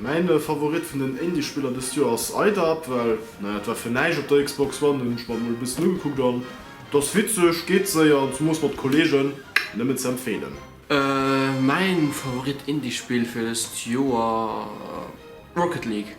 Mäin Favorit vun den Indie Spiller dëst Joer ass Idub, well naja et war fir näischt op der Xbox One, hunn ech mer mol e bëssen ugekuckt an et ass witzeg, geet séier an zemoos mat Kollegen, nëmmen ze empfeelen. Mäin Favorit Indie Spill fir dëst Joer Rocket League.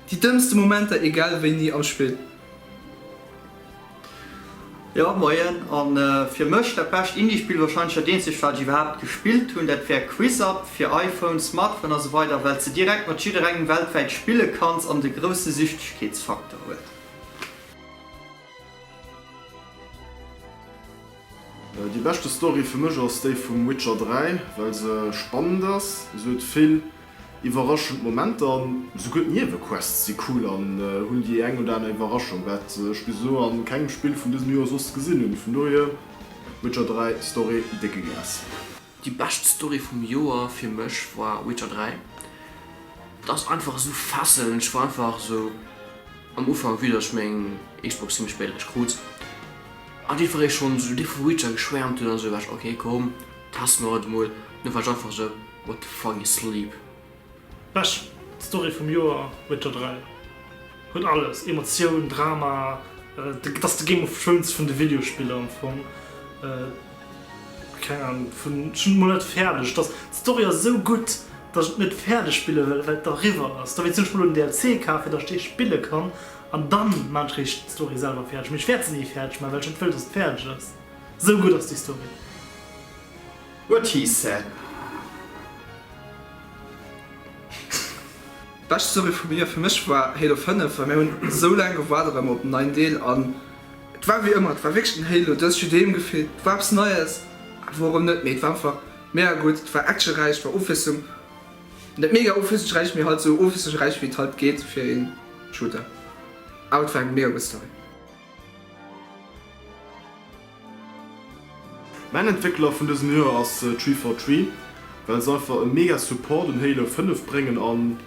Déi dëmmste Momenter egal wéini am Spill. Jo moien, an fir mech dat bescht Indie Spill, wahrscheinlech dat eenzegt wat ech iwwerhaapt gespillt hunn, dat wär Quizap fir iPhone, Smartphone a sou weider, well s de direkt mat jidderengem weltwäit spille kanns an et e grousse Süchtegkeetsfaktor huet. Déi beschte Story fir mech ass déi vum Witcher 3, well se spannend ass, se huet vill iwwerraschend Momenter an souguer d'Niewequests si cool an hunn déi eng oder aner Iwwerraschung, wat ech bis elo an kengem Spill vun dësem Joer soss gesinn hunn. Vun dohier Witcher 3 Story décke Glas. Déi bescht Story vum Joer fir mech war Witcher 3. Et ass einfach esou fesselnd. Ech war einfach esou am Ufank, vue datt ech meng Xbox zimmlech spéit erech krut, an dee Fré schonn esou dee vu Witcher geschwäermt huet, an esou war ech, ok komm, testen mer et emol, an du war ech einfach esou, what the fuck is sleep? Bescht Story vum Joer, Witcher 3 huet alles, Emotioun, Drama, et ass de Game of Thrones vun de Videospiller am Fong, keng Ahnung, vun, ech hunn et mol net fäerdeg, et ass, d'Story ass esou gutt, datt ech et net fäerdeg spille wëll, well et eriwwer ass, dowéinst hunn ech mol en DLC kaf, fir datt ech dee spille kann, an dann man ech réischt d'Story selwer fäerdeg, mee ech wäert se ni fäerdeg man, well ech net wëll, datt et fäerdeg ass, esou gutt ass déi Story. What he said. Bescht Serie vu mir, fir mech war Halo 5 well mir hunn esou laang gewaart op emmer op den neien Deel an et war wéi ëmmer et war wierklech den Halo dës Judeem gefillt, et war eppes Neies a wourëm net, mee et war einfach mega gutt, et war actionräich, et war Ofwiesslung, net mega ofwiesslungsräich, mee halt esou ofwiesslungsräich wéi et halt geet fir ee Shooter, awer et war eng mega gutt Story. Mäin Entwéckler vun dësem Joer ass Tree for Tree, well se einfach e mega Support un Halo 5 bréngen an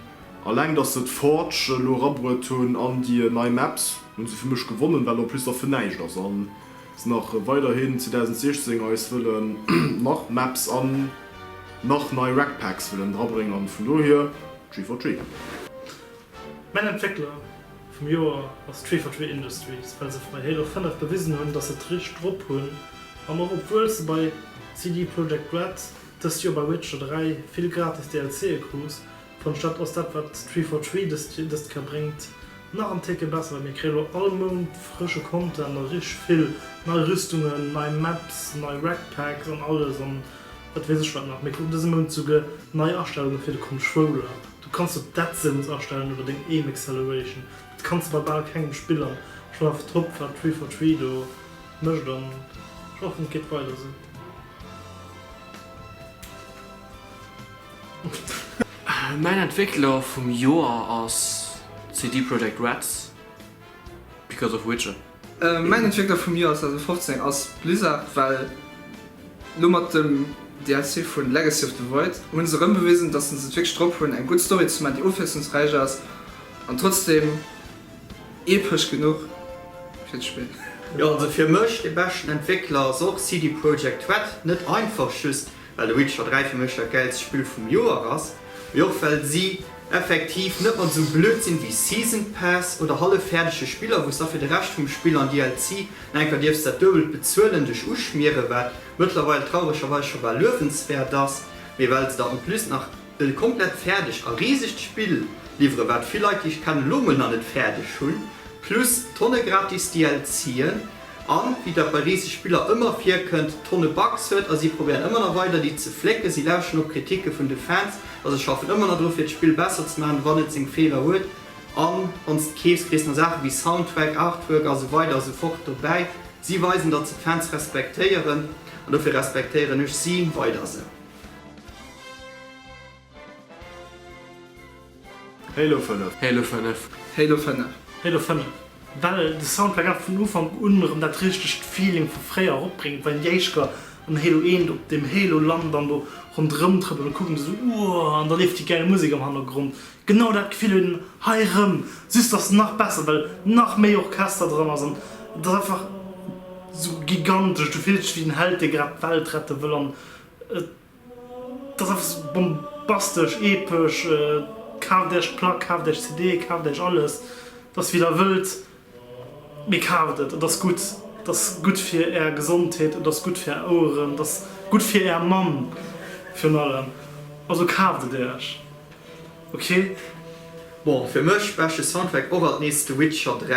alleng dass se d'Forge elo erabruet hunn an déi nei Maps, hunn se fir mech gewonnen, well en plus da fir näischt ass a se nach weiderhin 2016 eis wëllen nach Maps an nach nei Rec Packs wëllen drabréngen an vun dohier Tree for Tree. Mäin Entwéckler vum Joer ass Tree for Tree Industries, well se fir mei héiere 5 bewisen hunn, dass se d'Richt drop hunn an och obwuel se bei CD Projekt Red dëst Joer bei Witcher 3 vill gratis DLC'e krus, fënnt ech dat ass dat wat Tree for Tree dëst Kéier bréngt nach en Técke besser, well mir kréie lo all Mount frësche Content a richteg vill nei Rüstungen, nei Maps, nei Rec Packs an alles an et weess ech wat nach. Mir kruten dëse Mount souguer nei Astellunge fir de Controller. Du kanns do d'Adsence astellen oder deng Aim Acceleration, dat kanns de bei bal kengem Spill an ech hunn einfach drop wat Three for Three do mécht an ech hoffen et geet weider esou. Mäin Entwéckler vum Joer ass CD Projekt Reds, Because of Witcher. Mäin Entwéckler vum Joer 2015 ass Blizzard, well lo mat dem DLC vu Legacy of the Void hu se erëm bewisen, dass se et wierklech drop hunn eng gutt Story ze man, déi ofwiesslungsräich ass an trotzdeem epesch genuch fir d'Spill. Jo, also fir mech de beschten Entwéckler ass och CD Projekt Red. Net einfach just well de Witcher 3 fir mech dat gäilst Spill vum Joer ass, mee och well si effektiv net mat esou blöd sinn wéi Season Pass oder hallef fäerdege Spiller, wou s da fir de Rescht vum Spill an DLC nach enker dierfs dat duebelt bezuelen, dech uschmieren, wat mëttlerweil trauregerweis scho bal luewenswäert ass, mee well se der en plus nach. E komplett fäerdegt a risegt Spill liwweren, wat vill Leit, déi ech kennen, elo emol nach net fäerdeg hunn, plus tonne gratis DLCen a wéi dat bei riseg Spiller ëmmer virkënnt, tonne Bugs huet. A si probéieren ëmmer nach weider déi ze flécken, si lauschteren op d'Kriticke vun de Fans a se schaffen ëmmer nach dru fir d'Spill besser ze maachen, wann et seng Feeler huet. A wann s de keefs, kriss nach Saache wéi Soundtrack, Artwork a sou weider a sou fort dobäi. Si weisen, datt se d'Fans respektéieren an dofir respektéieren ech si weider esou. Halo 5. Halo 5. Halo 5. Halo 5. Well de Soundtrack awer vun Ufank un erëm dat richtegt Feeling vu fréier erop bréngt, well déi éischt Kar an Halo 1 op dem Halo lant an do ronderëm trëppelt a kucken esou uuhh an da leeft déi gäil Musek am Hannergrond. Genau dat Gefill huet een hei erëm, just dass en nach besser, well nach méi Orchester dran ass an et ass einfach esou gigantesch. Du fills dech wéi den Held dee grad d'Welt rette wëll an Et ass einfach sou bombastesch, epesch, kaaft Äech d'Plack, kaaft Äech d'CD, kaaft Äech alles, et ass wéi der wëllt, mee kaaft et, et ass gutt, et ass gutt fir Är Gesondheet, et ass gutt fir Är Oueren, et ass gutt fir Är Mamm virun allem, also kaaft et Äech, ok. Bon, fir mech beschte Soundtrack och alt nees The Witcher 3.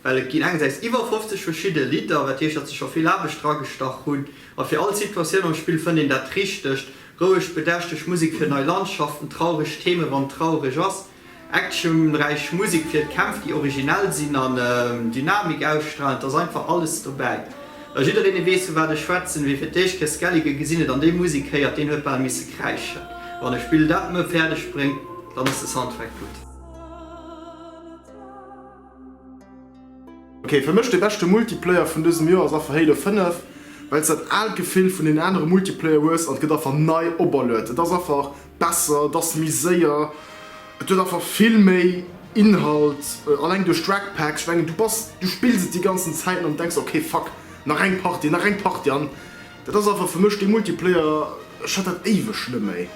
Well et ginn engersäits iwwer 50 verschidde Lidder, wat heescht, datt se scho vill Aarbecht dragestach hunn. A fir all Situatioun am Spill fënnt een dat Richtegt, roueg, bedächteg Musek fir nei Landschaften, traureg Theme wann et traureg ass, actionräich Musek fir d'Kämpf, déi originell sinn an Dynamik ausstralen. Et ass einfach alles dobäi. A jiddereen, dee weess, vu wat ech schwätzen, wee fir d'éischt Chris Gallagher gesinn huet an déi Musek héiert, deen huet bal misse kräischen. Wann e Spill dat méi fäerdeg bréngt, dann ass de Soundtrack gutt. Ok, fir mech de beschte Multiplayer vun dësem Joer ass affer Halo 5, wells dat aalt Gefill vun den anere Multiplayer hues an et gëtt affer nei operluet. Et ass affer besser, et ass méi séier, et huet affer vill méi Inhalt, alleng duerch d'Reg Packs. Ech mengen du bass, du spills et déi ganzen Zäiten an denks ok fuck nach eng Partie, nach eng Partie an. Dat ass einfach fir mech dee Multiplayer, ech hat dat éiweg net méi,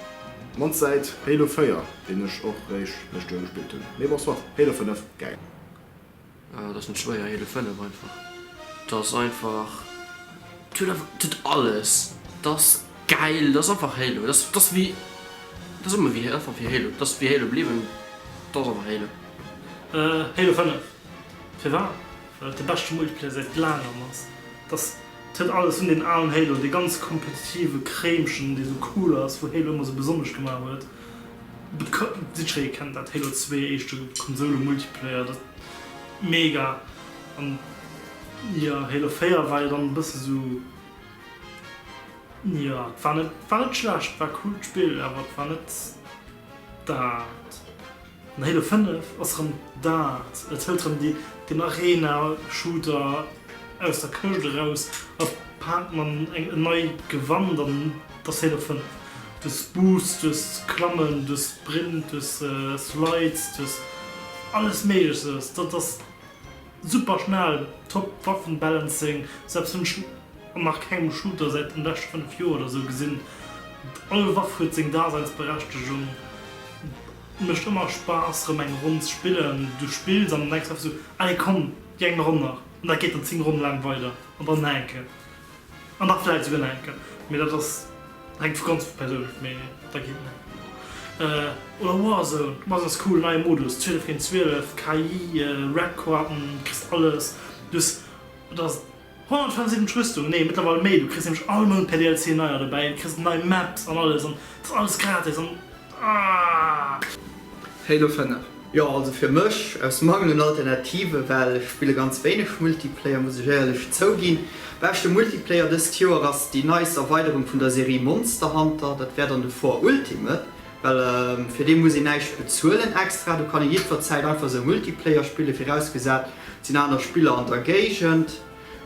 mannst säit Halo 4, deen ech och réischt lëscht Joer gespillt hunn, mee bon soit, Halo 5, gäil. Et ass net schwéier, Halo 5 einfach, et ass einfach, et huet einfach, et huet alles, et ass gäil, et ass einfach Halo, et ass, et ass wéi, et ass ëmmer wéi, einfach wéi Halo, et ass wéi Halo bliwwen, et ass einfach Halo. Halo 5, firwat? Well et de beschte Multiplayer säit laangem ass. Dass d'Hënn alles hunn, deen alen Halo, dee ganz kompetitive Kréimchen, dee sou cool ass, wou Halo ëmmer sou besonnesch gemaach huet. Jiddweree kennt dat, Halo Zwee, éischte Konsoule-Multiplayer, dat mega. An jo, Halo Véier war jo dann e bësse sou, jo, et war net, war net schlecht, war coolt Spill, awer et war net dat. An Halo 5 ass erëm dat, et hëlt erëm déi, den Arena Shooter aus der Këscht eraus a paakt mam eng en nei Gewand an, et ass Halo 5. Duerch Boosts, duerch Klammen, duerch Sprint, duerch Slides, duerch alles méigleches, dat ass super schnell, top Waffen Balancing, selbst hunn ech an nach kengem Shooter säit den leschte 5 Joer oder sou gesinn. All Waff huet seng Daseinsberechtegung. Mecht ëmmer Spaass rëm eng Ronn ze spillen. Du spills an denkst einfach sou, allez komm déi eng Ronn nach an dat geet dann 10 Ronne laang weider an dann nach eng Kéier an da vläit souguer nach eng Kéier. Mee dat ass, hänkt vu ganz Persoun of, mee da geet nach eng Ronn. Oder Warzone, Warzone ass cool, neie Modus, 12 géint 12, KI, Red Coarten, kriss alles, du hues, et ass 175 Rüstung, nee mëttlerweil méi, du kriss nämlech all Mount per DLC neier dobäi an du kriss nei Maps an alles an et ass alles gratis an aah. Halo 5. Jo also fir mech, aus Mangel un Alternative, well ech spille ganz wéineg Multiplayer muss ech éierlech zouginn. Beschte Multiplayer dëst Joer ass déi neist Erweiderung vun der Serie Monster Hunter, dat wär dann de For Ultimate, Well fir dee muss ee näischt bezuelen extra. Do kann ee jiddwer Zäit einfach esou Multiplayer spillen, virausgesat et sinn aner Spiller an der Géigend.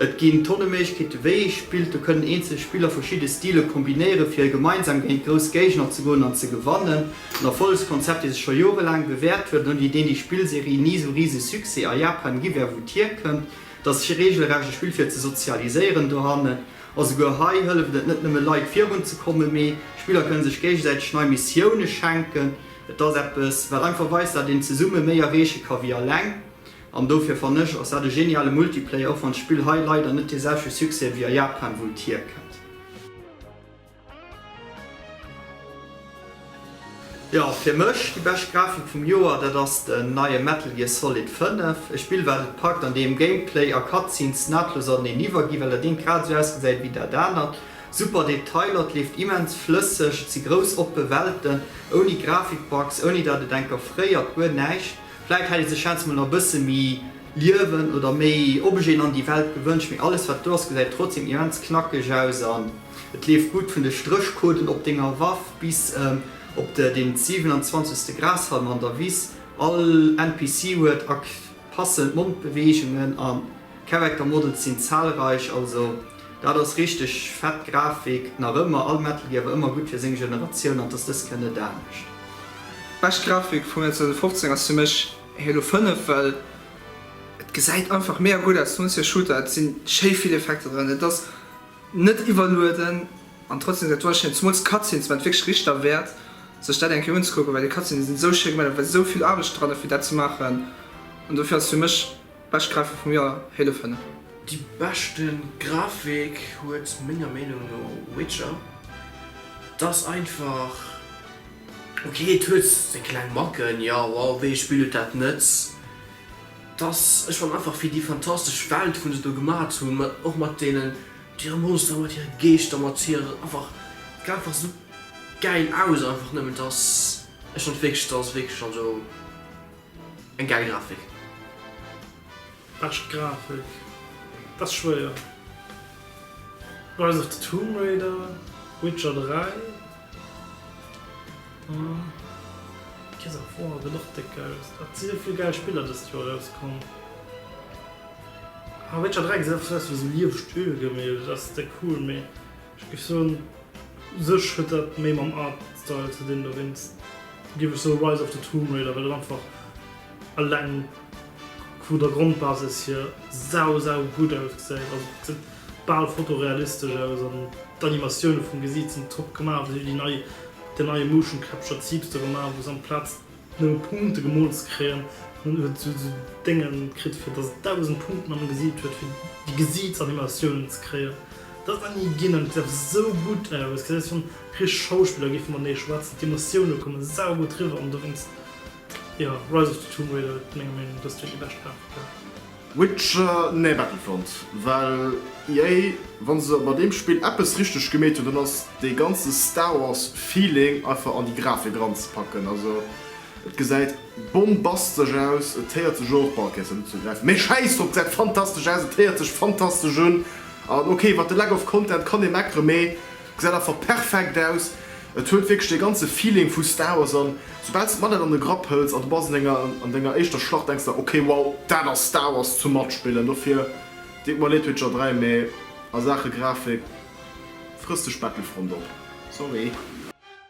Et ginn tonne Méiglechkeete wéi ee spillt. Do kënnen eenzel Spiller verschidde Stile kombinéieren, fir gemeinsam géint grouss Géigner ze goen an ze gewannen. En Erfollegskonzept, dee sech scho jorelaang bewäert huet an ouni deen déi Spillserie ni esou rise Succès a Japan gi wär wou d'hierkënnt. Et ass reegelrecht e Spill fir ze sozialiséieren dohannen. Esouguer hei hëlleft et net nëmme Leit virun ze kommen, mee d'Spiller kënne sech géigesäiteg nei Missioune schenken. Et ass eppes wat einfach weist dat een zesumme méi erreeche ka wéi eleng an dofir fannen ech ass dat e geniale Multiplayer, och wann d'Spill hei leider net dee selwechte Succès wéi a Japan wou et hierkënnt. Jo, fir mech déi bescht Grafik vum Joer, dat ass den neie Metal Gear Solid 5. E Spill wat et packt, an deem Gameplay a Cutscenes nahtlos aneneen iwwerginn, well dat eent grad esou ausgesäit wéi dat anert. Super Detailer, et leeft immens flësseg, et si grouss oppe Welten, ouni Grafikbugs, ouni dat et enker fréiert, guer näischt. Vläit hätt ee sech scheinst mol nach e bësse méi Liewen oder méi Objeten an déi Welt gewënscht, mee alles wat do ass gesäit trotzdeem immens knackeg aus. Et leeft gutt vun de Stréchcoden op denger Waff bis op de den 27 Grashalm an der Wiss. All NPC huet ak passend Mondbeweegungen an Character Models sinn zahlreich. Also dat ass richteg fett Grafik nach ëmmer. All Metal Gear war ëmmer gutt fir seng Generatioun an dass dëst kënn net anescht. Bescht Grafik vum Joer 2015 ass fir mech Halo 5 well et gesäit einfach mega gutt aus. Nolls fir Shooter, et sinn schéi vill Effekter dran, et ass Net iwwerlueden an trotzdem seng Toile schéin. Zumools d'Cutscenes waren et wierklech Richter wäert sech dat eng Kéier unzekucken, well déi Cutscenes sinn esou schéin gemaach, do war esou vill Aarbecht dran fir dat ze maachen an dofir ass et fir mech bescht Grafik vum Joer, Halo 5. Déi beschte Grafik huet menger Meenung no Witcher. Et ass einfach ok, et huet seng kleng Macken, jo, wow, wéi ee Spill huet dat net? dass ech fan einfach wéi déi fantastesch Welt wou se do gemat hunn, mat och mat deenen hire Monsteren, mat hire Geeschter, mat hire einfach geet einfach sou gäil aus einfach nëmmen, dass ech fan wierklech dass ass wierklech also eng gäil Grafik. Bescht Grafik, dat ass schwéier, Rise of the Tomb Raider, Witcher 3. Gears of War gëtt och déck aus. Et si sou vill gäil Spiller dëst Joer erauskomm. Ah Witcher 3 gesäit einfach sou aus wéi sou lieweg Ölgemälde, dat ass déck cool, mee ech géif soen u sech huet dat méi mam Artstyle ze dinn. Dowéinst géif ech soe Rise of the Tomb Raider, well et einfach eleng vu der Grondbasis hier sau, sau gutt ausgesäit. Also et gesäit bal fotorealistesch aus an d'Animatioune vum Gesiit sinn top gemaach. Wéi si hu deen neie Motion Capture Zeugs do gemaach, wou se amplaz nëmme Punkte gemoolt ze kréien, hunn huet se esou Dénge kritt, fir dass et 1000 Punkten am Gesiit huet, fir déi Gesiitsanimatiounen ze kréien. Dat ass nach ni ginn an et gesäit einfach esou gutt aus. Gesäit aus wann richteg Schauspiller géife matenee schwätzen. D'Emotioune komme saugutt riwwer an dowéinst, jo, Rise of the Tomb Raider huet menger Meenung no dëst Joer déi bescht Grafiker. Witcher nee Battlefront well EA wann se bei deem Spill eppes richteg gemeet hunn dann ass dee ganze Star Wars Feeling einfach an déi Grafik eran ze packen. Also et gesäit bombastesch aus, et héiert sech och, bon ok se unzegräifen, mee schäiss drop, et gesäit fantastesch aus, et héiert sech fantastesch un an ok iwwert de Lack of Content kann ee meckeren, mee Gesäit einfach perfekt aus. Et huet wierklech dee ganze Feeling vu Star Wars an soubal s de d'Manette an de Grapp hëls a du bass an denger éischter Schlacht denks der ok wow dat ass Star Wars zum matspillen. Dofir deet mer leed Witcher 3 mee a Saache Grafik frëss dech Battlefront op. Sorry.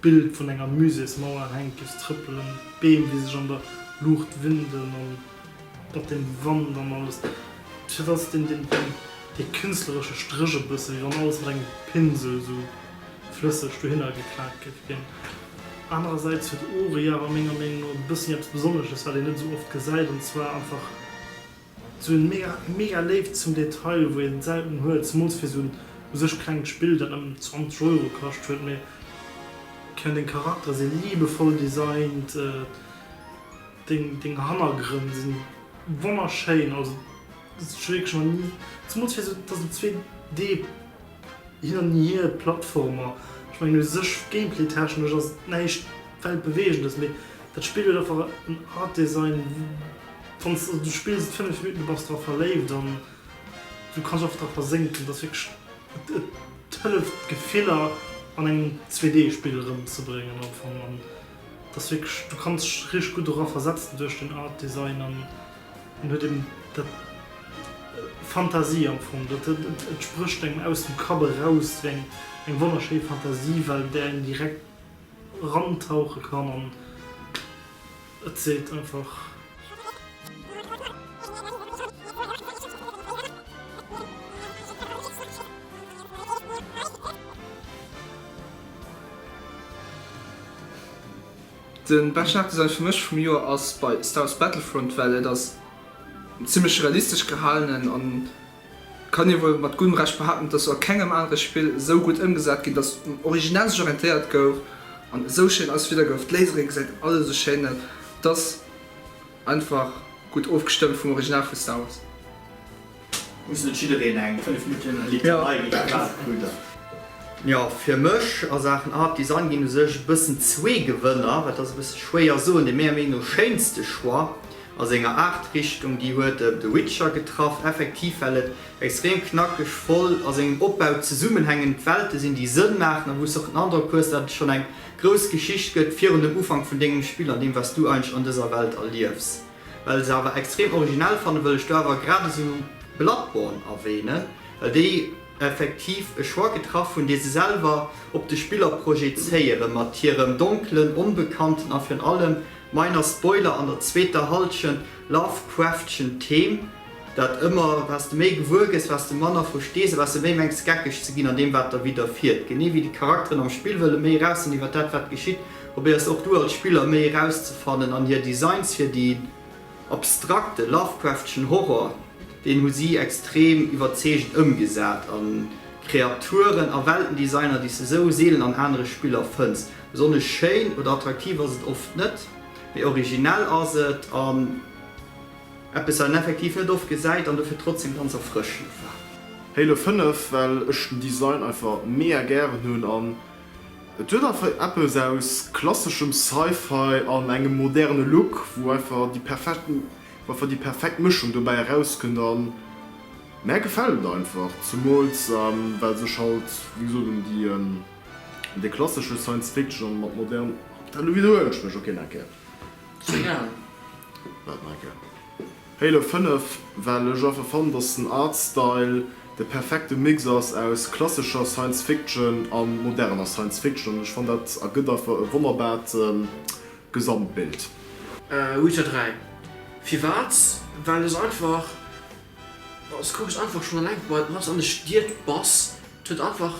D'Bild vun enger Muséesmauer hänkt duerch d'Trëppelen, d'Beem déi sech an der Luucht winden an mat dem Wand an alles. Fir dat ass deen dee künstleresche Stréch e bësse wéi wann alles mat engem Pinsel esou flësseg dohinner geplaakt géif ginn. Anerersäits huet Oriara menger Meenung no e bëssi eppes Besonnesches wat een net esou oft gesäit an zwar einfach, Sou en mega mega Léift zum Detail wou een selten huet, zemools fir sou en u sech klengt Spill dat nëmmen 20 Euro kascht huet, mee keng deng Charakteren si liebevoll designt, deng deng Hannergrënn si wonnerschéin, also wierklech nach ni, zemools fir sou dass et 2D. Hien an hir Plattformer, ech mengen u sech Gameplay-technesch ass et näischt Weltbeweegendes, mee dat Spill huet einfach en Art Design, wann s de spills et 5 Minutten, du bass dra verléift an du kanns einfach dra versénken. Et ass wierklech, et et hëlleft d'Gefiller an engem 2D Spill erëmzebréngen am Fong an et ass wierklech, du kanns dech richteg gutt dora versetzen duerch den Art Design an. En huet eben dat, Fantasie am Fong, dat et sprécht engem aus dem Kapp eraus, wéi eng eng wonnerschéi Fantasiewelt, an där een direkt rantauche kann an et seet einfach. Den beschten Aktdesign fir mech vum Joer ass bei Star Wars Battlefront, well et ass zimlech realistesch gehalenen an kann ee wuel mat guddem Recht behaapten, et ass a kengem anere Spill esou gutt ëmgesat ginn, dass um Original sech orientéiert gouf an esou schéin ausgefiddert gouf. D'Lasere gesäit alles esou schéin aus, et ass einfach gutt ofgestëmmt vum Original vu Star Wars. Muss net jiddereen eng 5 Minutten Literei wéi de Claude Krüger? Jo, fir mech a Saachen Art Design ginn u sech e bëssen zwee Gewënner. Et ass e bësse schwéier soen. Dee menger Meenung no schéinste Choix a senger Aart Richtung, déi huet The Witcher getraff, effektiv well et extrem knackeg, voll, a sengem Opbau zesummenhängend Welte sinn, déi Sënn maachen a wou s de och den Androck hues, datt et schonn eng grouss Geschicht gëtt virun dem Ufank vun dengem Spill an deem, wat s du eigentlech an dëser Welt erliefs. Well se awer extrem originell fannen, wëll ech do awer grad esou Bloodborne erwähnen, well déi effektiv e Choix getraff hunn, dee se selwer op de Spiller projezéieren, mat hirem donkelen, onbekannten a virun allem, minor spoiler, an der zweeter Halschent Lovecraftschen Theme, dat ëmmer, Wats de méi gewuer gëss, wats de manner verstees a wats de méi mengs geckeg ze ginn an deem, wat der widderfiert, genee wéi déi Charakteren am Spill wëlle méi eraus sinn iwwer dat, wat geschitt. Probéiers och du als Spiller méi erauszefannen an hir Designs fir den abstrakte Lovecraftschen Horror, deen hu si extrem iwwerzeegend ëmgesat a Kreaturen a Weltendesigner déi s de sou seelen an anere Spiller fënns. Besonnesch schéin oder attraktiv ass et oft net, mee originell ass et an eppes wat een effektiv net oft gesäit an dofir trotzdeem ganz erfrëschend war. Halo 5 well ech den Design einfach mega gären hunn an Et huet einfach eppes aus klasseschem Sci-Fi an engem moderne Look, wou einfach déi perfekt, wou einfach déi perfekt Mëschung dobäi erauskënnt a mär gefält et einfach, zemools well sech halt wéi gesot un déi, un déi klassesche Science Fiction an mat modern, oh, da widerhuelen ech mech, ok, nach eng Kéier, wat nach eng Kéier. Halo 5, well ech einfach fannen, dass den Artstyle de perfekte Mix ass aus klassescher Science Fiction a moderner Science Fiction an ech fannen dat ergëtt einfach e wonnerbaart Gesamtbild. Witcher 3, firwat? Well ech einfach, s kuck ech einfach schon alleng bei wat an de Stied bass, et huet einfach,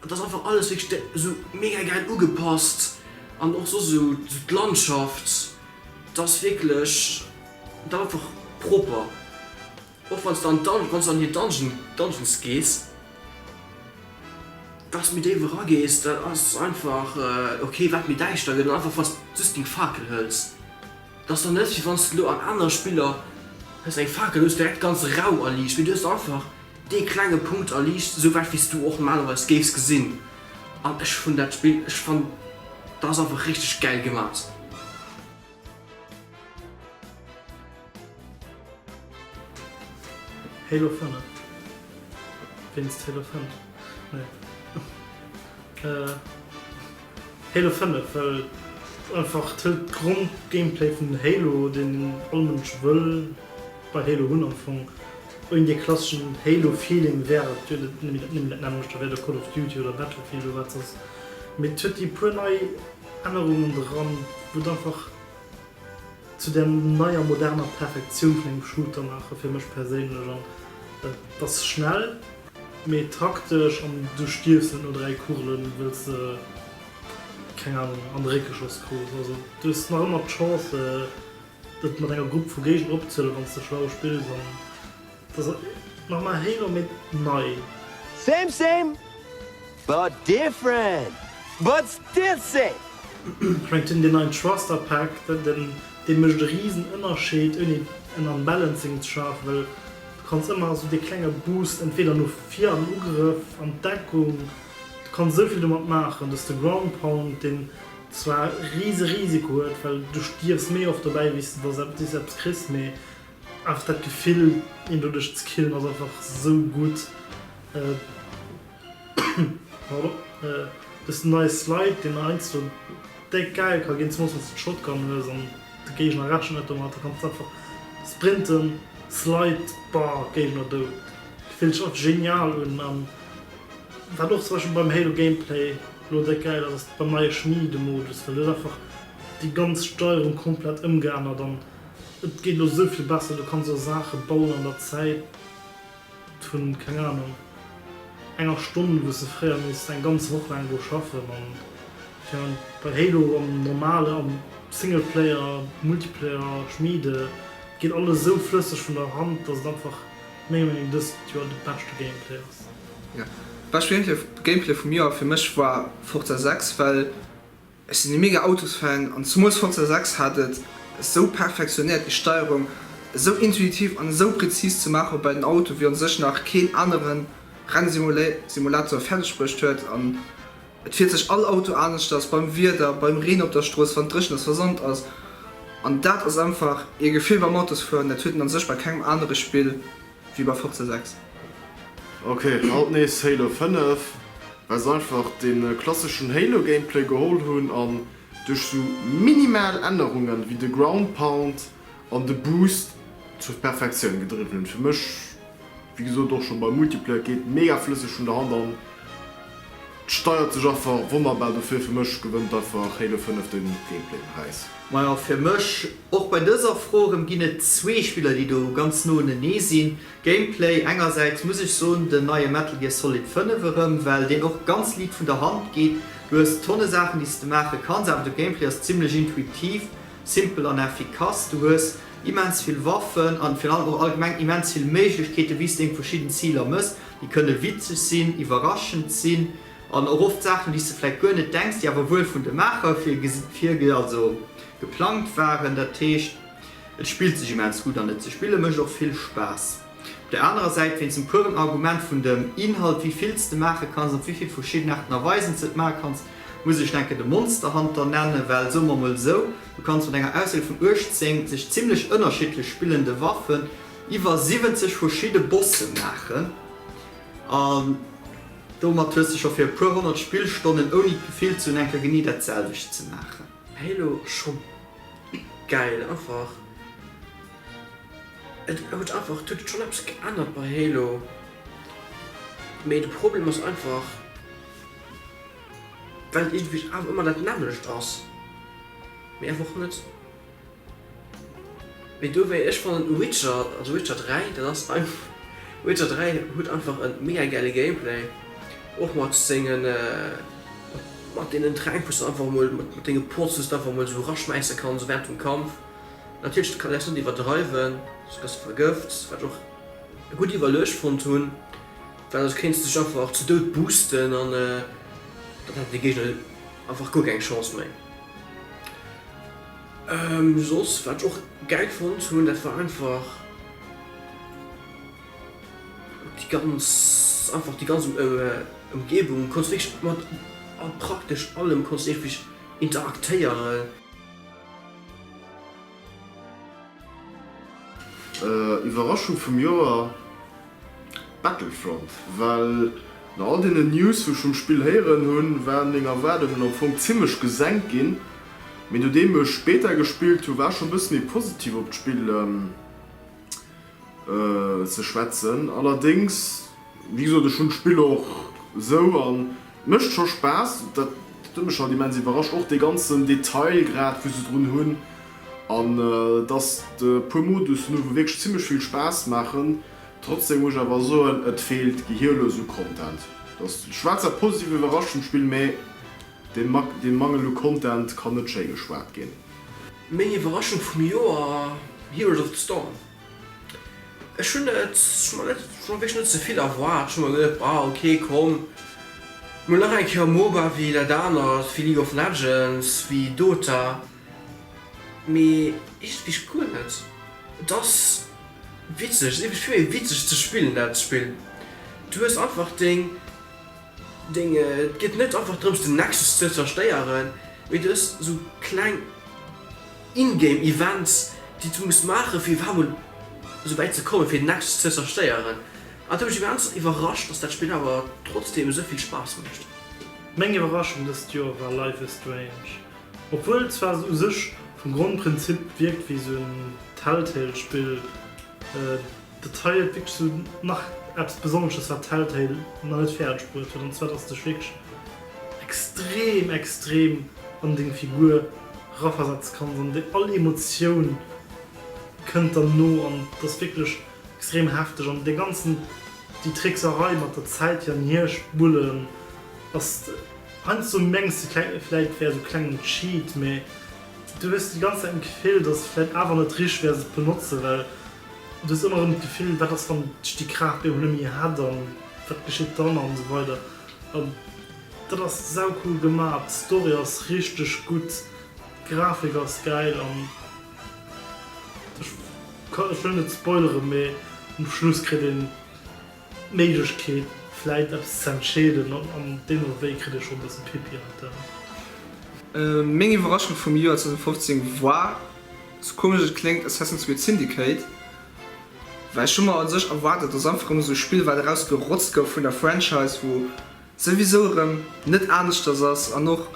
et ass einfach alles wierklech de esou mega gäil ugepasst an och soss esou d'Landschaft, et ass wierklech. Et einfach propper, och wanns de an Dungeon, wanns de an déi Dungeon, Dungeons gees, dass méi déif era gees, dat ass einfach ok, wat méi däischter gëtt, an einfach wanns de just deng Fakel hëls, dass dann net wéi wanns de lo an anere Spiller hues eng Fakel, hues direkt ganz Rau erliicht, mee du hues einfach dee klenge Punkt erliicht, sou wäit wéis du och normalerweis géifs gesinn, an ech hunn dat Spill, ech fann, dat ass einfach richteg gäil gemat. Halo 5 wéinst Halo 5 nee Halo 5 well einfach d'Hëlt d'Grond-Gameplay vun Halo deen all Mënsch wëll bei Halo hunn am Fong. Ouni dee klasseschen Halo Feeling wär et jo nëmmen dat nämmlecht, da wär et och Call of Duty oder Battlefield oder wat soss, mee et huet déi puer nei Ännerungen dran, wou et einfach zu där neier moderner Perfektioun vun engem Shooter maachen, fir mech perséinlech. An et ass schnell, mee taktesch, an du stierfs net no 3 Kugelen, wëll s de, keng Ahnung, an de Réck geschoss krus. Also du hues nach ëmmer d'Chance, et mat enger Grupp vu Géigner opzehuelen, wann s de schlau spills. Dass et nach mei héi no méi nei. Same same but different but still same. Schmengt den den neien Thruster Pack den den den mecht e riesen Ënnerscheed ouni en Unbalancing ze schafen well du kanns ëmmer esou dee klenge Boost entweder no vir am Ugrëff an d'Deckung du kanns esou vill domat maachen dass de Ground Pound den zwar riese Risiko huet well du stierfs méi oft dobäi wéi s de dass s eppes kriss mee Einfach dat Gefill een doduerch ze killen ass einfach sou gutt. Pardon. Dësen neie Slide, deen heiansdo déck gäil ka ginn, zumools wanns de d'Shotgun hues an de Géigner rechent net domat, da kanns de einfach sprinten, slide, baa, Géigner dout. Fillt sech einfach genial un. An wat och zum Beispill beim Halo Gameplay elo déck gäil ass, ass beim neie Schmiedemodus, well du hues einfach déi ganz Steierung komplett ëmgeännert an. Et geet elo esou vill besser, du kanns och Saache bauen an der Zäit vun, keng Anung, enger Stonn, wou s de fréier misst eng ganz Woch laang do schaffen. An fir an bei Halo am normale, am Singleplayer, Multiplayer schmiede, et geet alles esou flësseg vun der Hand, dass et einfach menger Meenung dëst Joer de beschte Gameplay ass. Bescht Gameplay vum Joer fir mech war Forza 6, well. Ech sinn e mega Autosfan an zemools Forza 6 hat et esou perfektionéiert déi Steierung esou intuitiv an esou präzis ze maachen, woubäi den Auto wéi on sech nach keen anere Rennsimulator fäerdeg bruecht huet an et fiert sech all Auto aneschters beim Wieder, beim Reen op der Strooss, wann et dréchen ass, versand ass an dat ass einfach ee Gefill beim Autosfueren dat huet een an sech bei kengem anere Spill. Wéi bei Forza 6. Ok, haut nees Halo 5, well se einfach de klasseschen Halo Gameplay geholl hunn an duerch sou minimal Ännerungen ewéi de Ground Pound an de Boost zur Perfektioun gedriwwen hunn. Fir mech, wéi gesot och scho beim Multiplayer, geet mega flësseg vun der Hand an. Steiert sech afach wonnerbar dofir fir mech gewënnt einfach Halo 5 den Gameplay Präis. Majo fir mech och bei dëser Fro rem ginn et zwee Spiller déi do ganz no enenee sinn Gameplay engersäits muss ech soen den neie Metal Gear Solid 5 erem well deen och ganz liit vun der Hand geet du hues tonne Saachen déi s de maache kanns awer de Gameplay ass zimlech intuitiv, simpel an effikass du hues immens vill Waffen an virun allem och allgemeng immens vill Méiglechkeeten wéi s deng verschidden Ziler mëss. Déi kënne witzeg sinn, iwwerraschend sinn an och oft Saachen, déi s de vläicht guer net denks, déi awer wuel vun de Maacher virge also geplangt waren. Dat heescht, et spillt sech immens gutt an et ze spille mécht och vill Spaass. Op der anerer Säit, wéinst dem pueren Argument vun dem Inhalt, wéi vill s de maache kanns op wéi vill verschidden Aarten a Weisen s de et maache kanns, muss ech denken de Monsterhunter nennen, well soe mer emol esou, du kanns mat enger Auswiel vun 18 sech zimmlech ënnerschiddlech spillende Waffen Iwwer 70 verschidde Bosse maachen an domat hues de scho fir e puer honnert Spillstonnen ouni d'Gefill ze hunn enker genee dat selwecht ze maachen. Halo ass scho gäil einfach. Et huet einfach, et huet schonn eppes geännert bei Halo, mee de Problem ass einfach well et iergendwéi awer ëmmer dat nämmlecht ass, mee einfach net. Mee do wéi ech fannen u Witcher, also Witcher 3, dat ass einf, Witcher 3 huet einfach en mega gäile Gameplay, och mat sengen, mat deenen Tränk wous de einfach emol, mat denge Pots dous de einfach emol esou eraschmäisse kanns während dem Kampf. Natierlech de Kaläs net iwwerdreiwen, soss gëss de vergëft, wat ech och gutt iwwerluecht fonnt hunn, well soss kéins de dech einfach ze Doud boosten an dann hätten déi Géigner einfach guer keng Chance méi. Soss wat ech och gäil fonnt hunn, dat war einfach déi ganz, einfach déi ganz Ëmgebung, konns wierklech mat praktesch allem konns iergendwéi interaktéieren. Iwwerraschung vum Joer, Battlefront. Well no all deenen News wou ech vum Spill héieren hunn, waren meng Erwaardungen am Fong zimlech gesenkt ginn. Mee nodeem ech Beta gespillt hunn, war ech schonn bësse méi positiv op d'Spill ze schwätzen. Allerdéngs, wéi gesot, ech hunn d'Spill och esou an et mécht scho Spaass. Dat huet mech halt immens iwwerrascht, och dee ganzen Detailgrad wou se drun hunn an dass e puer Modussen hunn, wou wierklech zimmlech vill Spaass maachen. Trotzdem muss ech awer soen, et feelt gehierlos u Content. Ech war zwar positiv iwwerrascht vum Spill, mee dee Mangel u Content kann net schéi geschwat ginn. Meng Iwwerraschung vum Joer, Heroes of the Storm. Ech hunn et mer net, ech hunn wierklech net ze vill erwaart. Ech hu mer geduet, bah ok komm, mol nach eng Kéier e Moba wéi dat anert, wéi League of Legends, wéi Dota. Mee iergendwéi guer net. Et ass witzeg, et ass iergendwéi vill méi witzeg ze spillen dat Spill. Du hues einfach deng Deng, et geet net einfach drëms den Nexus ze zerstéieren, mee du hues sou kleng in-game Events déi s du muss maache fir iwwerhaapt mol sou wäit ze kommen fir den Nexus ze zerstéieren. An et huet mech immens iwwerrascht dass dat Spill awer trotzdeem esou vill Spaass mécht. Meng Iwwerraschung dëst Joer war Life is Strange. Obwuel zwar se u sech vum Grondprinzip wierkt wéi sou en Telltale Spill, Dat hei huet wierklech sou nach eppes Besonnesches, wat Telltale nach net fäerdeg bruet huet, an zwar dass du dech wierklech extrem, extrem an deng Figur eraversetze kanns an déi all Emotioun kënnt der no an et ass wierklech extrem hefteg. An dee ganzen, déi Trickserei mat der Zäit hier an hier spullen ass, heiansdo mengs de vläit et wär esou klengen Cheat, mä du hues déi ganz Zäit d'Gefill, dass et vläit awer net richteg wär se ze benotze well Du hues ëmmer erëm d'Gefill, wat ass wann d'Sti Kraaft meng och net méi hätt an wat geschitt dann an esou weider. An dat ass saucool gemaach, d'Story ass richteg gutt, d'Grafik ass gäil an ech kann, ech wëll net spoileren, mee um Schluss kritt een d'Méiglechkeet vläit eppes ze entscheeden an an deem Ewéi kritt ee scho e bëssen Pipi an d'Aen. Meng Iwwerraschung vum Joer 2015 war. Sou komesch et kléngt, Assassin's Creed Syndicate, well ech hu mer an sech erwaart, datt ass einfach erëm esou e Spill wat eraus gerotzt gouf vun der Franchise, wou souwisou erëm net aneschters ass an och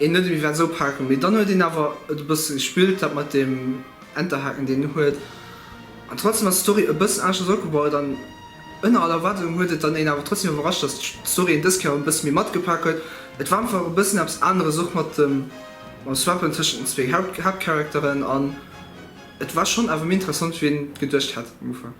een net ewéi wat esou paken, mee dann huet een awer et e bësse gespillt dat mat deem Enterhaken deen en huet an trotzdem ass d'Story e bëssen aneschters opgebaut an ënner all Erwaardung huet et dann een awer trotzdem iwwerrascht, datt d'Story een dës Kéier e bësse méi matgepak huet. Et war einfach e bëssen eppes aneres och mat dem. Mam Swappen tëschent den zwéi Haaptcharakteren an. Et war schonn awer méi interessant wéi een et geduecht hat um Ufank.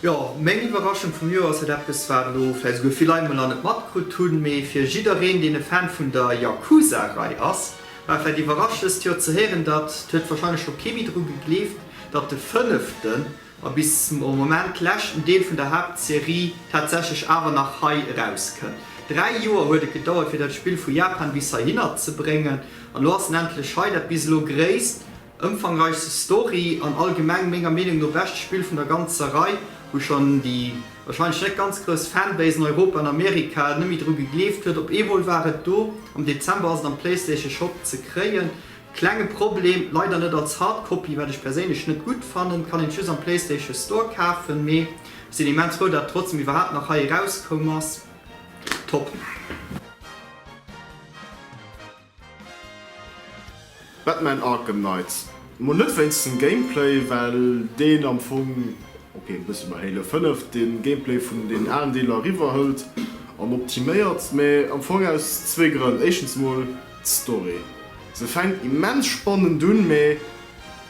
Jo, meng Iwwerraschung vum Joer ass et eppes wat elo vläicht esouguer vill Leit mol nach net matkrutt hunn, mee fir jiddereen deen e Fan vun der Yakuza Rei ass war et vläicht iwwerrascht dëst Joer ze héieren datt, et huet warscheinlech scho kee méi dru gegleeft, datt de fënneften. a bis zum Moment leschten Deel vun der Haaptserie tatsächlech awer nach hei erauskënnt. Dräi Joer huet et gedauert fir dat Spill vu Japan bis heihinner ze bréngen, an elo ass en endlech hei. Dat bis elo gréisst, ëmfangreichste Story an allgemeng menger Meenung no beschte Spill vun der ganzer Rei, wou schonn déi wahrscheinlech net ganz grouss Fanbase an Europa an Amerika net méi dru gegleeft huet. Op eemol war et do, am Dezember ass et am Playstation Shop ze kréien. Klenge Problem, leider net als Hardcopy, wat ech perséinlech net gudd fannen. Kann een just am Playstation Store kaafen, mee sin immens frou dat et trotzdem iwwerhaapt nach hei erauskoum ass. Top! Batman Arkham Knights, mol net wéinst dem Gameplay, well deen am Fong, ok e bësse bei Halo 5, den Gameplay vun den aalen Deeler eriwwer hëllt an optiméiert, mee am Fong aus zwee Grënn, éischtens mol, D'Story, se fänkt immens spannend un, mä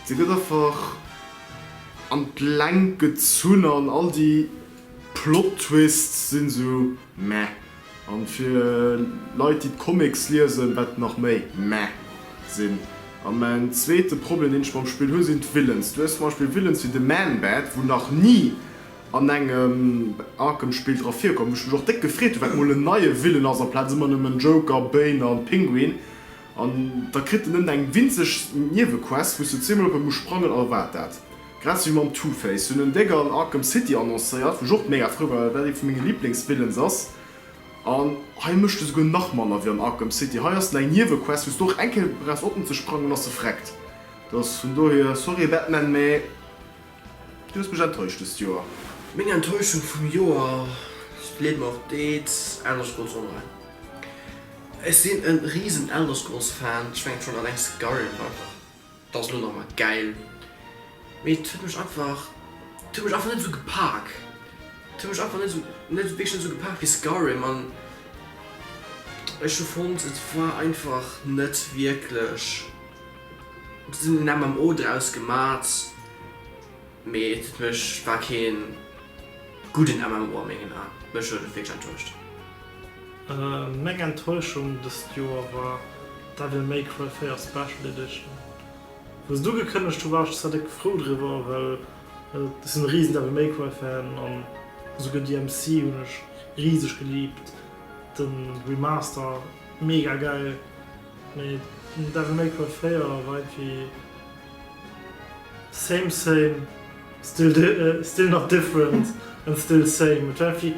se gëtt einfach an d'Längt gezunn an all déi Plottwists sinn esou meh. An fir Leit déi d'Comics liesen, wat nach méi meh sinn. An mäin zweete Problem deen ech mam Spill hunn, sinn d'Villains. Du hues zum Beispill Villains wéi de Man-Bat, wou nach ni An engem Arkham Spill dra virkomm, wou ech mech och déck gefreet hunn, well et mol en neie Villain ass amplaz ëmmer nëmmen Joker, Bane an Pinguin. An da kritt en nëmmen eng winzeg Niewequest, wou s de zweemol op e muss sprangen a wat dat. Grad esou wéi mam Two-Face. Si hunn en Dégger an Arkham City annoncéiert, wou ech och mega frou war, well dat ee vu menge Liblingsvillains ass. An hei mécht e souguer nach manner wéi an Arkham City. Hei ass en eng Niewequest, wou s de och eng Kéier brauchs oppen ze sprangen, an da ass e vreckt. Dass vun dohier, sorry Batman, mä. Du hues mech enttäuscht dëst Joer. Meng Enttäuschung vum Joer, ech gleewen och deels Elder Scrolls Online. Ech sinn en riesen Elder Scrolls Fan, ech mengen schon alleng Skyrim war einfach dass elo nach mol gäil, mee et huet mech einfach, et huet mech einfach net esou gepak, et huet mech einfach net esou, net wierklech net esou gepak wéi Skyrim an ech hu fonnt et war einfach net wierklech. Bis elo hun MMO draus gemaat, mee et mech war keen gudden MMO a mengen Aan. Mech huet et wierklech enttäuscht. Meng Enttäuschung dest Joer war Devil May Cry 4 Special Edition. Wou se du gekënnegt hu war ech zwar déck frou driwwer, well ech sin e riesen Devil May Cry Fan an esouguer DMC hun ech rieseg geliebt. Den Remaster mega geil. Mee den huet awer méi Coiffure fréier a weit wéi same same still nach different and still same. Et war irgendwie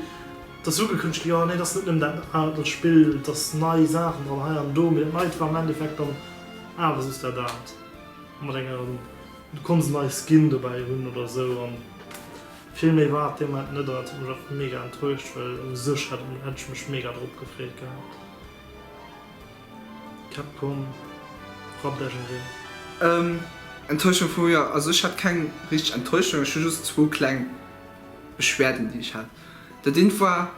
dass ugekënnegt gi, oh nee dass net nëmmen dat aalt dat spillt, dass nei Saachen dran hei an do, mee dat neit war am Endeffekt dann awer just dat aalt mat enger, du konnts nei Skin dobäi hunn oder esou an vill méi war et deemnait net an dat huet mech och mega enttäuscht well u sech hätt ech mech mega drop gefreet gehat. Capcom rappt Esch erëm. Enttäuschung vu mir, also ech hat keng richteg Enttäuschung, ech hu just zwou kleng Beschwerden déi ech hat. Dat eent war,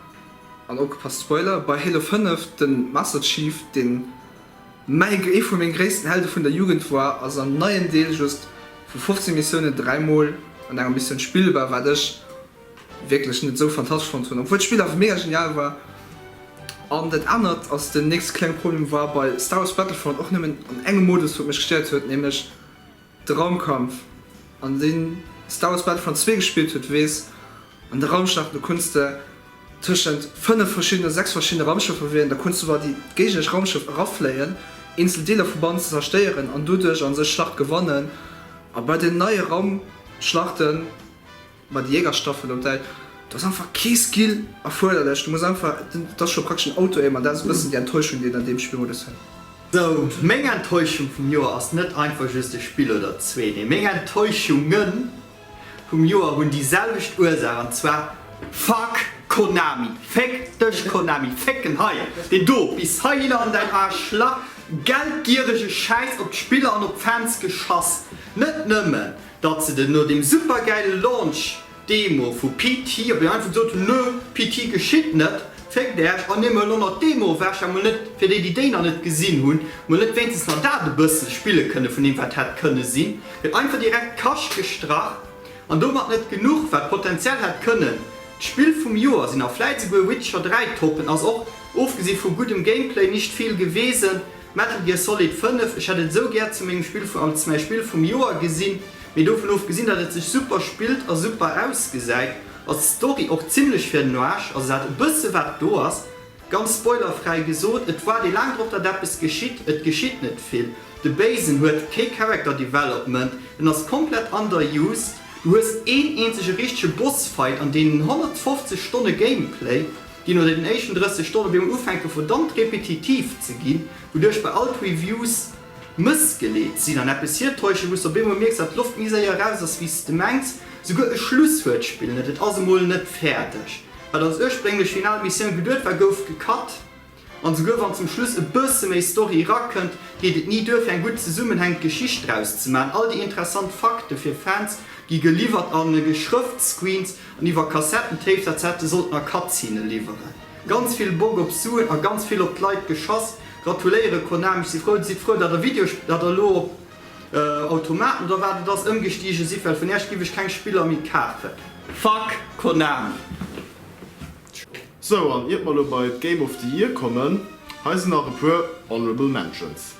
an opgepasst Spoiler, bei Halo 5 de Master Chief deen ee vu meng gréissten Helde vun der Jugend war ass am neien Deel just vu 15 Missiounen dräimol an enger Missioun spillbar wat ech wierklech net esou fantastesch fonnt hunn, obwuel d'Spill awer mega genial war. An dat anert ass, den nächste klenge Problem war bei Star Wars Battlefront och nëmmen an engem Modus, wat mech gestéiert huet, nämlech de Raumkampf. An deen Star Wars Battlefront zwee gespillt huet, weess, an de Raumschlachten, do kunnst de tëschent fënnef verschiddenen oder sechs verschiddene Raumschëffer wielen, da kunnst du bei déi géigneresch Raumschëff erafléien, eenzel Deeler vu bannen ze zerstéieren an doduerch a sech Schlachte gewannen. A bei den neie Raumschlachten. Ma déi Jägerstaffel op däi, do ass einfach kee Skill erfuerderlech, du muss einfach, et ass scho praktesch en Auto-Aim an dat ass e bëssen déi Enttäuschung déi een an deem Spielmodus huet. Sou, meng Enttäuschung vum Joer ass net einfach just e Spill oder zwee, nee meng Enttäuschunge vum Joer hunn déi selwecht Ursaach an zwar fuck Konami! Féck dech Konami! Fécken hei deen do bis heihin an däin Arschlach! Geldgierege Schäiss op d'Spiller an op d'Fans geschass! Net nëmmen Datt se den no dem supergäile Launch Demo vu PT op eng einfach gesot hunn, nö, PT geschitt net, féckt Äerch an Dir, mol elo nach d'Demo ewech, emol net, fir déi déi déi nach net gesinn hunn, mol net wéinstens nach dat e bësse spille kënne vun deem wat hätt kënne sinn, gëtt einfach direkt d'Kascht gestrach. An domat net genuch, wat potenziell hätt kënnen d'Spill vum Joer sinn a vläit esouguer Witcher 3 toppen, ass och, ofgesi vu guddem Gameplay, nicht viel gewesen. Metal Gear Solid 5, ech hätt et esou gär zu mengem Spill vu als mäi Spill vum Joer gesinn, mee dovun ofgesinn dat et sech super spillt a super ausgesäit, ass d'Story och zimlech fir den Aarsch, also dat e bësse wat do ass. Ganz spoilerfräi gesot, et waart ee laang drop dat eppes geschitt, et geschitt net vill, de Béisen huet kee Character Development, en ass komplett underused, du hues een eenzege richtege Boss Fight an deenen 150 Stonne Gameplay, déi no den éischten 30 Stonne virun Ufänke verdammt repetitiv ze ginn, wouduerch bei all d'Reviews mëssgeleet sinn an eppes hirtäuschen, wou s de op eemol mierks, datt d'Loft méi séier eraus ass, wéi s de mengs. Souguer e Schluss huet d'Spill net, et ass emol net fäerdeg. Wat als ursprénglech final Missioun geduet war, gouf gecut. An souguer wann zum Schluss e bësse méi Story erakënnt, geet et ni duer, fir eng gutt zesummenhängend Geschicht draus ze maachen. All déi interessant Fakte fir Fans gi geliwwert a Geschrëftscreens An iwwer Kassettentapes etc. Sollt mer Cutscene liwweren. Ganz vill Bock op Suen a ganz vill op d'Leit geschass. Gratuléieren Konami, ech si frou. Sidd frou dat der Videospill, dat der elo op Automaten oder wat et ass, ëmgestigen sidd, well vun Äerch giff ech keng Spiller méi kafen. Fuck Konami. Sou, an iert mer elo bei d'Game of the Year kommen, hei sinn nach e puer Honorable Mentions.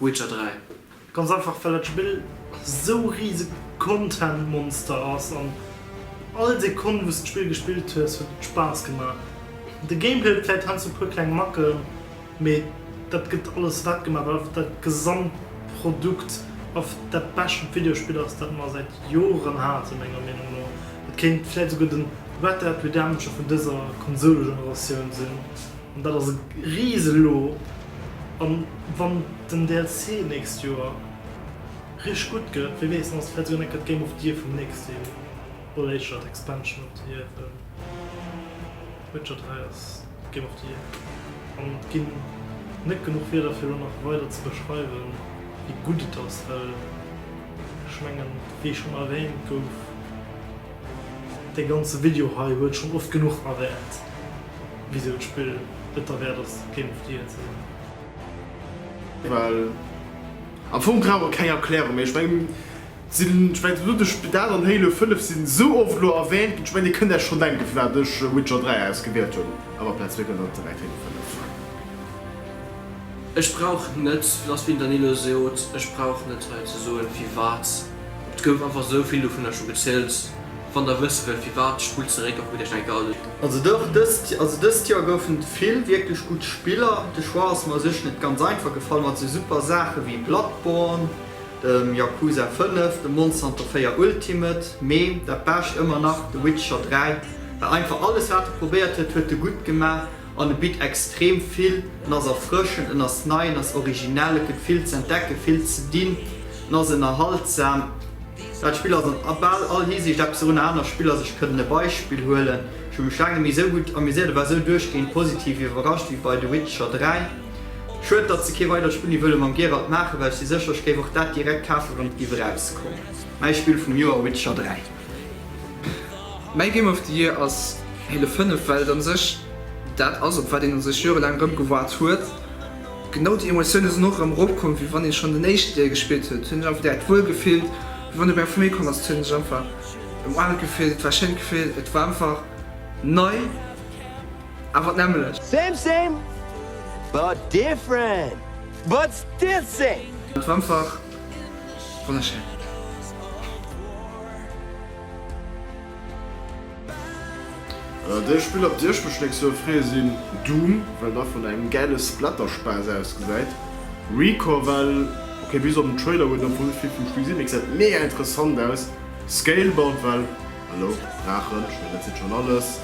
Witcher 3. Ganz einfach well dat Spill sou rieseg Content Monster ass an all Sekonn wou's d'Spill gespillt hues huet et Spaass gemaach. De Gameplay huet vläit heiansdo puer kleng Macken, mee dat gëtt alles wett gemaach well einfach dat Gesamtprodukt einfach dat bescht Videospill ass dat mer säit Joren hate menger Meenung no. Et kéint vläit souguer de Red Dead Redemption vun dëser Konsolegeneratioun sinn. An dat ass e riise Lo. A wann den DLC d'nächst Joer richteg gutt gëtt, wie weess, dann ass et vläicht souguer net grad d'Game of the Year vum nächste Joer. Oder éischter d'Expansion of the Year, well Witcher 3 ass d'Game of the Year. An et ginn net genuch Wierder, fir elo nach weider ze beschreiwen, wéi gutt et ass, well ech mengen, wéi schonn erwäänt gouf, Dee ganze Video hei huet schon oft genuch erwänt wisou d'Spill et derwärt ass Game of the Year ze sinn. Well am Fong brauch et keng Erklärung méi. Ech mengen d'Sinn, ech mengen elo de Spidal an Halo 5 sinn esou oft elo erwänt ginn, ech mengen dir kënnt Äech schon denken vun wat ech Witcher 3 ausgewielt hunn a wat Platz 4 kënnt an direkt hannert 5 war. Ech brauch net, lass Winternilo seot, ech brauch net hei ze soen firwat. Et gouf einfach esou vill dovunner scho gezielt. Wann der wësse wëllt firwat, spullt zeréck a kuckt iech eng Garde un. Also dach, dëst Joer goufen et vill wierklech gutt Spiller. De Choix ass mer u sech net ganz einfach gefall mat esou super Saache wéi Bloodborne, dem Yakuza 5, dem Monster Hunter 4 Ultimate, mee dat Bescht ëmmer nach The Witcher 3, well einfach alles wat e probéiert huet, huet e gutt gemaach. An e bitt extrem vill. En ass erfrëschend, en ass nei, en ass originell, et gëtt vill ze entdecken, vill ze dinn, en ass ënnerhaltsam. Dat Spill ass an bal all Hisiicht eppes erun. Aner Spiller, ech kënnt e Beispill huelen, ech hu mech laang net méi esou gutt amuséiert a war esou duerchgehend positiv iwwerrascht wéi bei The Witcher 3. Schued, datt se kee weidert Spill ni wëlle mam Geralt maachen, well ech si sécher, ech géif och dat direkt kafen, wann et géif erauskomm. Mäi Spill vum Joer, Witcher 3. Mäi Game of the Year ass Halo 5, well et a sech dat ass, op wat een a sech jorelaang erëm gewaart huet. Genau déi Emotioune sinn och erëm eropkomm, wéi wann ee schonn den éischten Deel gespillt huet, hunn ech einfach direkt wuel gefillt. Wéi wann e bei eng Famill komm ass, hunn ech einfach ëmramt gefillt. Et war e schéint Gefill, et war einfach nei, awer d'nämlecht. Same same but different but still same. Et war einfach Wonnerschéin. Dee Spiller, op déi ech mech d'nächst Joer freeë sinn Doom, well dach vun engem gäile Splatterspaass ausgesäit. Recore well, ok bis op den Trailer huet net wuel vill vum Spill gesinn, mee gesäit mega interessant aus. Scalebound well, hallo, Draachen, ech mengen dat seet schonn alles.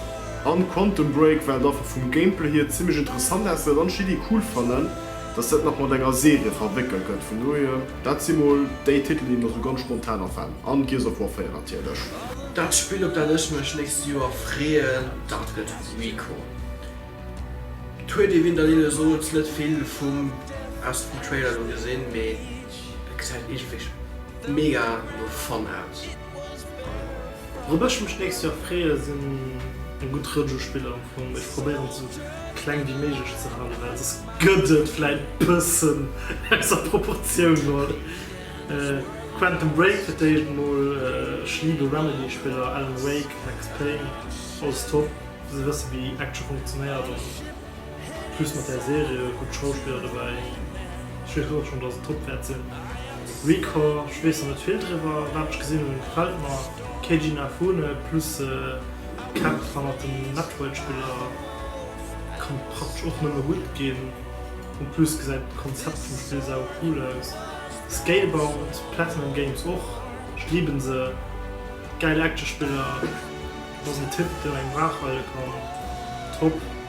An Quantum Break well dach vum Gameplay hier zimmlech interessant ausgesäit an ech déi Iddi cool fannen. Dass dat nach mat enger Serie verwéckelt gëtt, vun dohier, dat si mol déi Titelen, déi mer sou ganz spontan afalen. An Gears of War 4 natierlech. Dat Spill, op dat ech mech nächst Joer freeën, dat gëtt RICO. Et huet ee, wéi den Daniel sot, net vill vum erschten Trailer do gesinn, mee et gesäit iergendwéi mega no Fun aus. Wourop ech mech d'nächst Joer freeë sinn eng gutt Rëtsch u Spiller. Am Fong, ech probéieren et esou kleng wéi méiglech ze halen, well soss gëtt et vläit e bëssen ausser Proportioun. Mol Quantum Break fir d'éischt, mol Schlido Remedy Spiller, Alan Wake, Max Payne, alles top, fir ze wësse wéi Action funktionéiert. Plus mat där Serie gutt Schauspiller dobäi. Ech weess och schonn, dass et Top wäert sinn. Recore, ech weess nach net vill driwwer. Wat ech gesinn hunn, gefält mer. Keiji Inafune plus Kämpf hannert den Metroid-Spiller kann praktesch och nëmme gutt ginn. En plus gesäit d'Konzept vum Spill saucool aus. Scalebound, Platinum Games och, ich liebe se. Gäil Action-Spiller. Et ass en Tipp, deen engem waach hale kann. Top!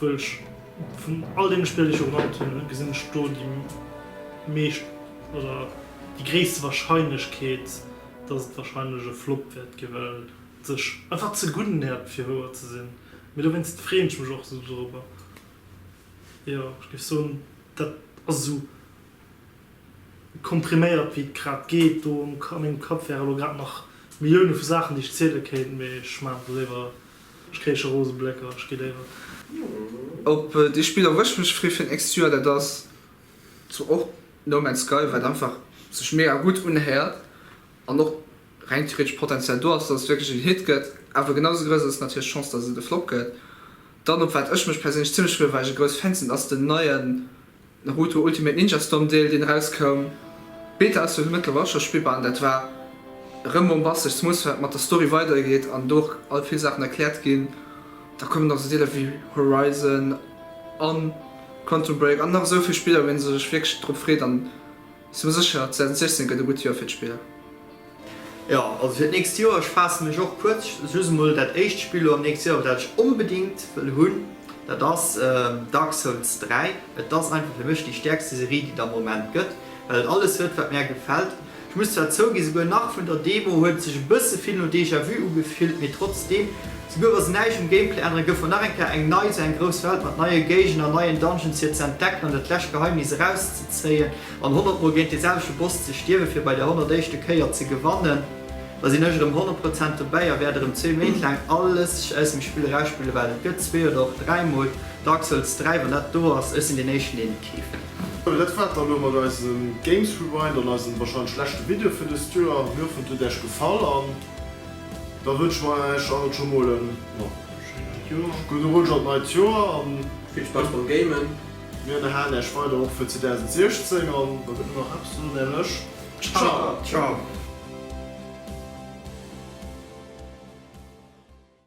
Well ech vun all deene Spiller, déi ech elo genannt hunn, gesinn ech do déi meescht oder déi gréisste Warscheinlechkeet, datt et warscheinlech e Flop wäert ginn, well et sech einfach ze gutt nähert fir wouer ze sinn. Mee dowéinst freeën ech mech och esou dorobber. Jo, ech géif soen, dat ass esou kompriméiert wéi et grad geet. Do a mengem Kapp wäre elo grad nach Millioune vu Saachen, déi ech ziele kéint, mee ech maachen do léiwer Ech kréich scho rose Blécker, ech gi déiwert. Op dee Spill erwësch ech mech fri fir den Exi Joer. Dat ass zwar och No Man's Sky, wat einfach sech mega gutt unhéiert an och reng theoretesch Potential do ass, dass et wierklech en Hit gëtt. Awer genau sou grouss ass natierlech d'Chance, dass et e Flop gëtt. Dann, op wat ech mech perséinlech zimmlech free well ech e grouss Fan sinn, ass den neien. Naruto Ultimate Ninja Storm Deel deen erauskoum. D'Beta ass jo mëttlerweil och scho spillbar an dat war rëm bombastesch, zemools well et mat der Story weider geet an do och all vill Saachen erkläert ginn. Da kommen nach esou Deeler wéi Horizon an Quantum Break an nach esou vill Spiller wou een sech wierklech drop freet an. Sou sécher, 2016 gëtt e gutt Joer fir d'Spiller. Jo, also fir d'nächst Joer, ech faasse mech och kuerz, just emol dat éischt Spill lo am nächste Joer, dat ech onbedéngt wëll hunn, dat ass Dark Souls 3. Et ass einfach fir mech déi stäerkste Serie, déi der am Moment gëtt, well et alles huet, wat mär gefält. Ech muss zwar zouginn, souguer nach vun der Demo huet et sech e bësse vill no Déjà-vu ugefillt, mee trotzdeem Souguer wa se näischt um Gameplay änneren, gouf mer nach eng Kéier eng nei, esou eng grouss Welt mat neie Géigner, neien Dungeons fir ze entdecken an dat lescht Geheimnis erauszezéien an 100 mol géint dee selwechte Boss ze stierwen, fir bei der 100 éischte Kéier ze gewannen. Da sinn ech erëm 100 Prozent dobäi a wäert erëm zwee Méint laang alles aus dem Spill erausspillen, well et gëtt zwee oder och dräi mol Dark Souls 3, wann dat do ass. Ech sinn deen Éischten, deen et keeft. Sou, dat war et dann elo mat eisem Games Rewind an eisem warscheinlech leschte Video fir dëst Joer. Mir hoffen, et huet Äech gefall an. Da wënschen mer Äech allen scho mol en gudde Rutsch an d'neit Joer an vill Spaass beim Gamen. Mir ënnerhalen Äech weider och fir 2016 an da gëtt et nach eppes ze soen, nämlech Ciao!